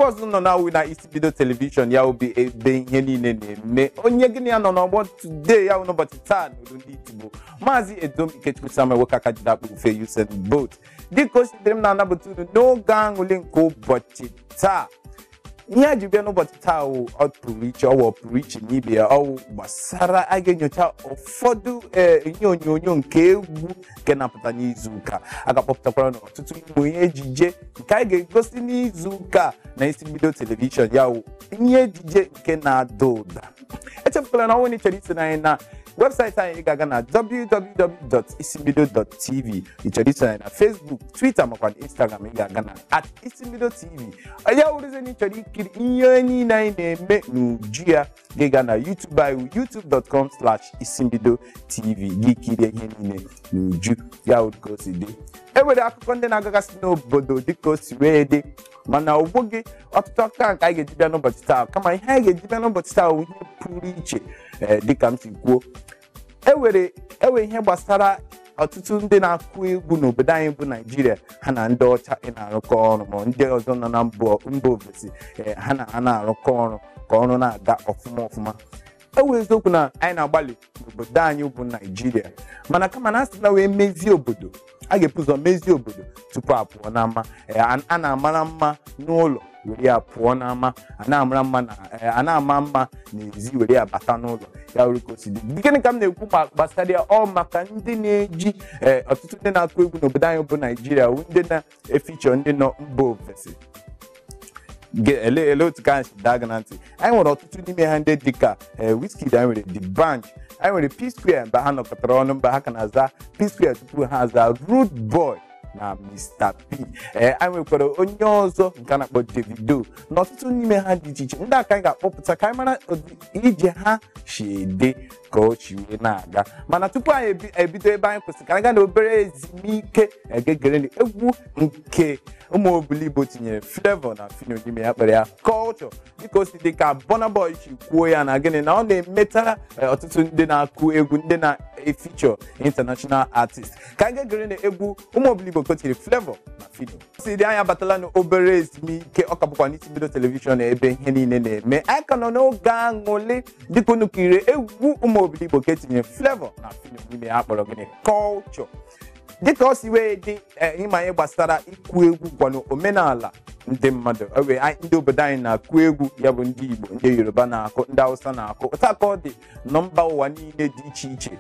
ọzọ nọ na-awụ na isi mbido telivishọn ya obi ebe ihe niile na-eme onye gịnị ya nọ n'ọgbọ tude ya n'ụbọchị taa n'olu ndị itigbo maazị edom ikechukwu samuel nwoke aka jide akpụ ufe Usain Bolt dịka o si dịrị m na-anabata unu n'oge aṅụlị nke ụbọchị taa ihe a ji bịa n'ụbọchị taa wụ ọpụrụ iche ọ wụ ọpụrụ iche n'ibe ya ọ wụ gbasara a ga-enyocha ụfọdụ ee, ihe onyonyo nke egwu nke na-apụta n'izu ụka a ga-akpọpụtakwara na ọtụtụ ụmụ ihe ejije nke a ga-egosi n'izu ụka na isi mbido telivishọn ya wụ ihe ejije nke na-ada ụda echefukwala na ọ wụ na ị chọrọ iso na anyị na webụsaịtị anyị ị ga-aga na www.isimbido.tv ị chọrọ iso na anyị na Facebook Twitter makwa na Instagram ị ga-aga na at isimbido tv ya wụrụzie na ị chọrọ ikiri ihe niile anyị na-eme n'uju ya gị ga na YouTube anyị youtube.com slash isimbido tv gị kirie ihe niile n'uju ya wụrụ ka o si dị e nwere akụkọ ndị na-agagasị n'obodo dịka o si wee dị mana ọ wụghị ọtụtụ akụkọ ahụ ka anyị ga-eji bịa n'ụbọchị taa kama ihe anyị ga-eji bịa n'ụbọchị taa bụ ihe pụrụ iche ee, dịka m si kwuo e nwere e nwe ihe gbasara ọtụtụ ndị na-akụ egwu n'obodo anyị bụ naijiria ha na ndị ọcha ị na-arụkọ ọrụ ma ndị ọzọ nọ na mba mba ofesi ee, ha na ha na-arụkọ ọrụ ka ọrụ na-aga ọfụma ọfụma ọ wụ eziokwu na anyị na-agbalị n'obodo anyị bụ naijiria mana kama na a sị na wee mezie obodo a ga-ebu ụzọ mezie obodo tupu a pụọ n'ama Ee, a a na-amara mma n'ụlọ were ya pụọ n'ama a na-amara mma na ee, a na-ama mma n'ezi were ya bata n'ụlọ ya wụrụ ka o si dị gịnị ka m na-ekwu gbasara ya ọ maka ndị na-eji ee, ọtụtụ ndị na-akụ egwu n'obodo anyị bụ naijiria bụ ndị na- efichọ ndị nọ mba ofesi Ge- ele ele otu ka anyị si daa gị na ntị anyị nwere ọtụtụ n'ime ha ndị dịka eh, Wizkid anyị nwere D'banj anyị nwere P Square mgbe ha nọkọtara ọnụ mgbe ha ka na-aza P Square tupu ha aza Rude Boy na Mr. P ee anyị nwekwara onye ọzọ nke a na-akpọ Davido na ọtụtụ n'ime ha dị iche iche ndị a ka anyị ga-akpọpụta ka anyị mara ụdị ije ha si dị ka o si wee na-aga mana tupu anyị ebi- ebido ebe anyị kwụsịrị ka anyị gaa na obere ezumike egegere egwu nke ụmụ Obiligbo tinyere Flavour na Phyno n'ime ya kpọrọ ya culture dịka o si dị ka Burna Boy si kwuo ya na gịnị na ọ na-emetara eh, ọtụtụ ndị na-akụ egwu ndị na-efichọ international artist ka anyị gegere na egwu ụmụ Obiligbo kotiri Flavour na Phyno si dị anyị abatala n'obere ezumike ọ ka bụkwa n'isi mbido telivishọn ebe ihe niile na-eme anyị ka nọ n'oge aṅụlị dịka unu kiriri egwu ụmụ Obiligbo ka e tinyere Flavour na Phyno n'ime ya kpọrọ gịnị culture dịka o si wee dị eh, ịma ihe gbasara ịkụ egwu kwanụ omenala ndị mmadụ o wee anyị- ndị obodo anyị na-akụ egwu ya bụ ndị igbo ndị yoruba na-akụ ndị hausa na-akụ otu a ka ọ dị na mba ụwa niile dị iche iche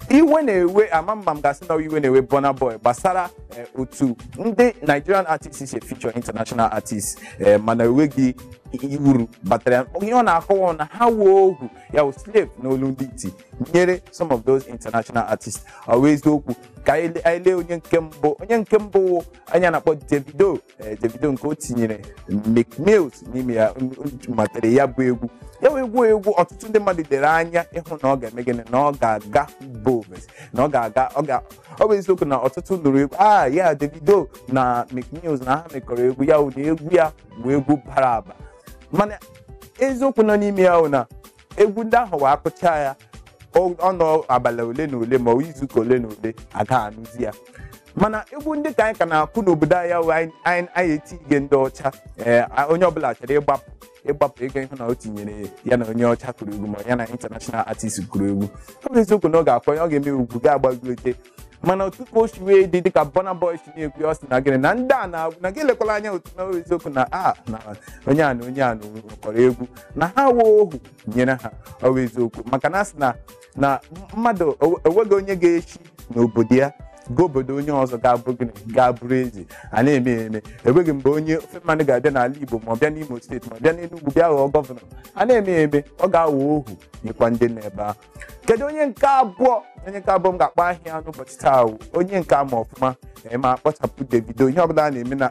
iwe na-ewe ama m ma m ga-asị na iwe na-ewe Burna Boy gbasara eh, otu ndị Nigerian artists si feature international artists eh, mana enweghị ihe wụ uru batara ya. ihe ọ na-akọwa na ha wụ ohu ya wụ slave n'olu ndị iti nyere some of those international artists ọ wụ eziokwu ka anyị le- anyị lee onye nke mbụ onye nke mbụ wụ onye a na-akpọ Davido ee, Davido nke o tinyere Meek Mills n'ime ya m- m- matara ya bụ egwu ya wụ egwu wụ egwu ọtụtụ ndị mmadụ lere anya ịhụ na ọ ga-eme gịnị na ọ ga-aga mba ofesi na ọ ga-aga ọ ga ọ bụ eziokwu na ọtụtụ nụrụ egwu a ya Davido na Meek Mills na ha mekọrọ egwu ya ụdị egwu ya bụ egwu bara aba mana eziokwu nọ n'ime ya bụ na egwu ndị ahụ wụ a kụchaa ya ọ- ọ nọọ abalị ole na ole ma ọ izuụka ole na ole aga anụzi ya mana egwu ndị ka anyị ka na-akụ n'obodo anyị ahụ anyị anyị- anyị etinye ndị ọcha ee, a- onye ọbụla chọrọ ịgbapụ ịgbapụ ego ịhụ na o tinyere ya na onye ọcha kụrụ egwu ma ya na international artist kụrụ egwu ọ bụ eziokwu na ọ ga-akwa ya ọ ga-eme egwu ga-agbagote mana otu ka o si wee dị dịka Burna Boy si na-ekwu ya, ọ sị na gịnị na ndị a na na gị elekwala anya otu na eziokwu na a na onye a na onye a na kụrụ egwu na ha wụ ohu nyere ha ọ wụ eziokwu maka na a sị na na mmadụ o- enweghị onye ga-esi n'obodo ya gaa obodo onye ọzọ ga-abụ gịnị ga-abụrụ eze a na-eme ya eme enweghị mgbe onye ofe mmanụ ga-abịa n'ala Igbo ma ọ bịa n'Imo steeti ma ọ bịa n'Enugwu bịa ghọọ gọvanọ a na-eme ya eme ọ ga-aghọ ohu nyekwa ndị nọ ebe ahụ kedu onye nke abụọ onye nke abụọ m ga-akpọ aha ya n'ụbọchị taa wụ onye nke a ma ọfụma ee, ma a kpọchapụ Davido ihe ọbụla a na-eme na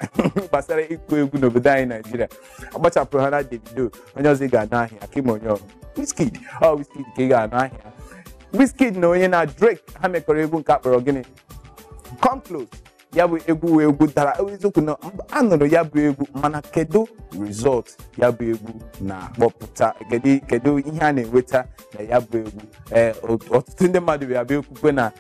gbasara ịkụ egwu n'obodo anyị naijiria akpọchapụrụ ha na Davido onye ọzọ ị ga-anụ aha ya ka ị ma onye ọ wụ Wizkid ọ Wizkid ka ị ga-anụ aha ya Wizkid na onye na Drake ha mekọrọ egwu nke a kpọrọ gịnị come close ya bụ egwu wụ egwu dara eziokwu na mba- a nụrụ ya bụ egwu mana kedu result ya bụ egwu na-akpọpụta kedu kedu ihe a na-enweta na ya bụ egwu ee ot- ọtụtụ ndị mmadụ bịa bịa ekwuwe na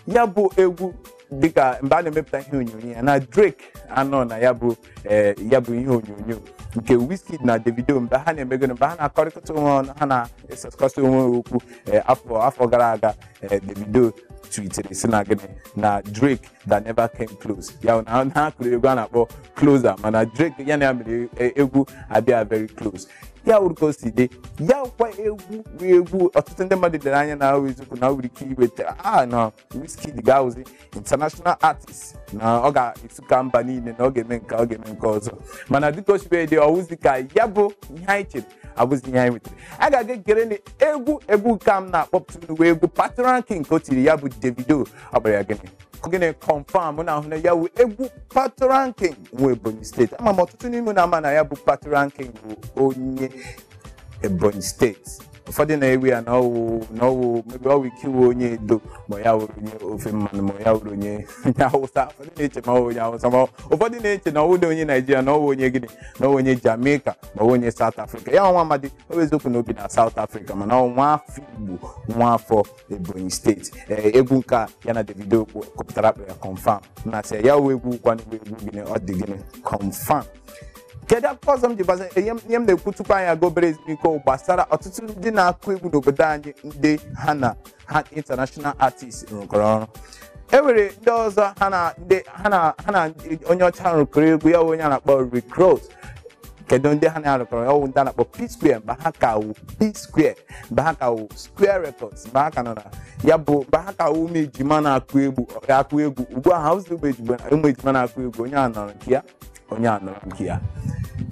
ya bụ egwu dịka mgbe a na-emepụta ihe onyonyo ya na Drake anọ na ya bụ ee, ya bụ ihe onyonyo nke Wizkid na Davido mgbe ha na-emego mgbe ha na-akọrịkọta onwe ọnụ ha na-esesịkọta onwe ha okwu ee, afọ afọ gara aga ee, Davido tweetere sị na gịnị na Drake that never came close ya na ha kụrụ egwu a na-akpọ closer mana Drake ya na ya mere e- egwu abịa very close ya wụrụ ka o si dị ya kwa egwu bụ egwu ọtụtụ ndị mmadụ lere anya na ahụ eziokwu na o nwere ike iweta a na Wizkid ga-awụzi international artist na ọ ga-esuka mba niile na ọ ga-eme nke ọ ga-eme nke ọzọ mana dịka o si wee dị ọ wụzi ka ya bụ ihe anyị chere abụzi ihe anyị nwetara a ga-aga gere na egwu egwu ka m na-akpọpụta unu wụ egwu patoranking ka o tiri ya bụ davido ọ kpọrọ ya gịnị gịnị confirm na ahụ na ya wụ egwu patoranking nwa ebonyi steeti ama m ọtụtụ n'ime na ama na ya bụ patoranking bụ onye ebonyi steeti ụfọdụ na-ewe ya na ọwụ na ọwụ maybe o nwere ike ịwụ onye edo ma ya wụrụ onye ofe mmanụ ma ya wụrụ onye onye awụsa ụfọdụ na-eche na ọwụ onye awụsa ma ụfọdụ na-eche na ọwụghị onye naijiria na ọwụ onye gịnị na ọwụ onye jamaica ma ọwụ onye south africa ya nwa amadi ọ bụ eziokwu na o bi na south africa mana ọ nwa afọ igbo nwa afọ ebonyi steeti ee egwu nke a ya na davido ọ kụ- kụpụtara a kpọ ya confirm na-asị ya wụ egwu kwanụ bụ egwu gịnị ọ dị gịnị confirm kedu akụkọ ọzọ m ji gbasa ihe m ihe m na-ekwu tupu anyị aga obere ezumike gbasara ọtụtụ ndị na-akụ egwu n'obodo anyị ndị ha na ha international artist rụkọrọ ọrụ e nwere ndị ọzọ ha na ndị ha na ha na ndị- onye ọcha rụkọrọ egwu ya bụ onye a na-akpọ Rick Ross kedu ndị ha na ya rụkọrọ ya wụ ndị a na-akpọ P Square mgbe ha ka wụ P Square mgbe ha ka wụ Square Records mgbe ha ka nọ na ya bụ mgbe ha ka wụ ụmụ ejima na-akụ egwu akụ egwu ugbu a ha awụzị ụmụ ejima ụmụ ejima na-akụ egwu onye a nọrọ nke ya onye a nọrọ nke ya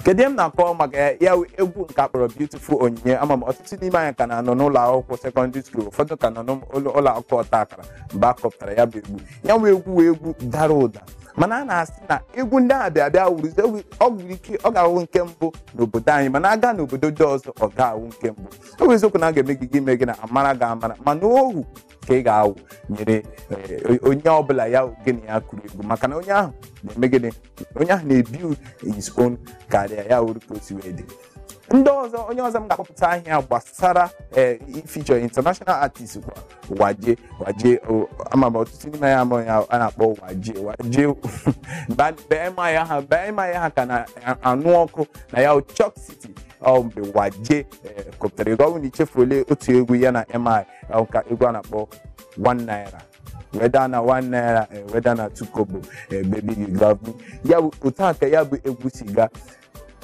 kedu ihe m na-akọ maka ya ya wụ egwu nke a kpọrọ beautiful onyinye ama m ọtụtụ n'ime anyị ka na-anọ n'ụlọ akwụkwọ sekọndịrị skuul ụfọdụ ka nọ n'ụlọ ụlọ akwụkwọ ọta akara mgbe a kụpụtara ya bụ egwu ya wụ egwu wụ egwu dara ụda mana a na-asị na egwu ndị ahụ bịa bịa wụrụzie egwu- o nwere ike ọ ga-awụ nke mbụ n'obodo anyị mana a gaa n'obodo ndị ọzọ ọ ga-awụ nke mbụ ọ bụ eziokwu na a ga-eme gị gị ime gị na a mara gị amara mana ọwụ ka ị ga-awụnyere eh, onye ọbụla ya gịnị ya kụrụ egwu maka na onye ahụ na-eme gịnị onye ahụ na-ebuild his own career ya wụrụ ka o si wee dị ndị ọzọ onye ọzọ m ga-akpọpụta aha ya gbasara eh, feature international artist kwa waje waje o- ama m ọtụtụ n'ime anyị ama ya a na-akpọ waje waje mgbe- mgbe MI ha mgbe MI ha ka na-anụ ọkụ na ya Choc City ọ mgbe waje kụpụtara egwu ọwụ na i chefuole otu egwu ya na MI ka egwu a na-akpọ one naira whether na one naira whether na two kobo baby you love me ya bụ otu a ka ya bụ egwu si gaa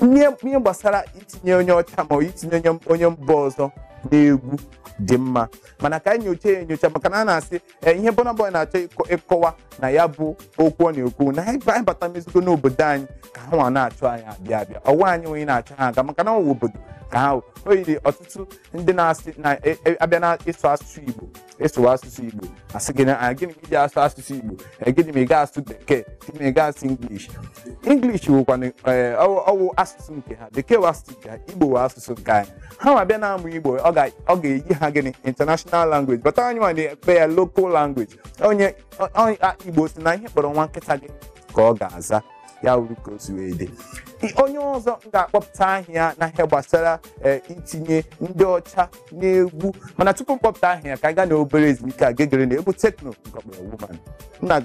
ihe gbasara itinye onye ọcha ma itinye onye mba ọzọ n'egwu dị mma mana ka anyị nyochaa ya enyocha maka na a na-asị ee ihe Burna Boy na-achọ ịkọ- ịkọwa na ya bụ okwu ọ na-ekwu na anyị anyị bata mezigo n'obodo anyị ka ha nwa na-achọ anyị abịa abịa ọwa anyị onye na-achọ ha aga maka na ọwụ obodo ka ha o yiri ọtụtụ ndị na-asị na e- e- a bịa na ịsụ asụsụ Igbo ịsụwa asụsụ Igbo a sị gị na Ah, gịnị ka i ji asụ asụsụ Igbo Ee, gịnị ma ị ga-asụ bekee gịnị ma ị ga-asụ English English wụkwana ee, ọwụ ọwụ asụsụ nke ha bekee wụ asụsụ nke ha Igbo wụ asụsụ nke anyị ha nwa bịa na-amụ igbo ọ ga- ọ ga-eyi ha gịnị international language but anyị nwa na-ekpe ya local language onye ọ- ọ- a- igbo sị na ihe ị kpọrọ nwa nkịta gị ka ọ ga-aza ya wụrụ ka o si wee dị I- onye ọzọ m ga-akpọpụta aha ya na ihe gbasara eh, itinye ndị ọcha n'egwu mana tupu m kpọpụta aha ya ka anyị gaa na obere ezumike a gegere na egwu tekno nke ọ kpọrọ woman m na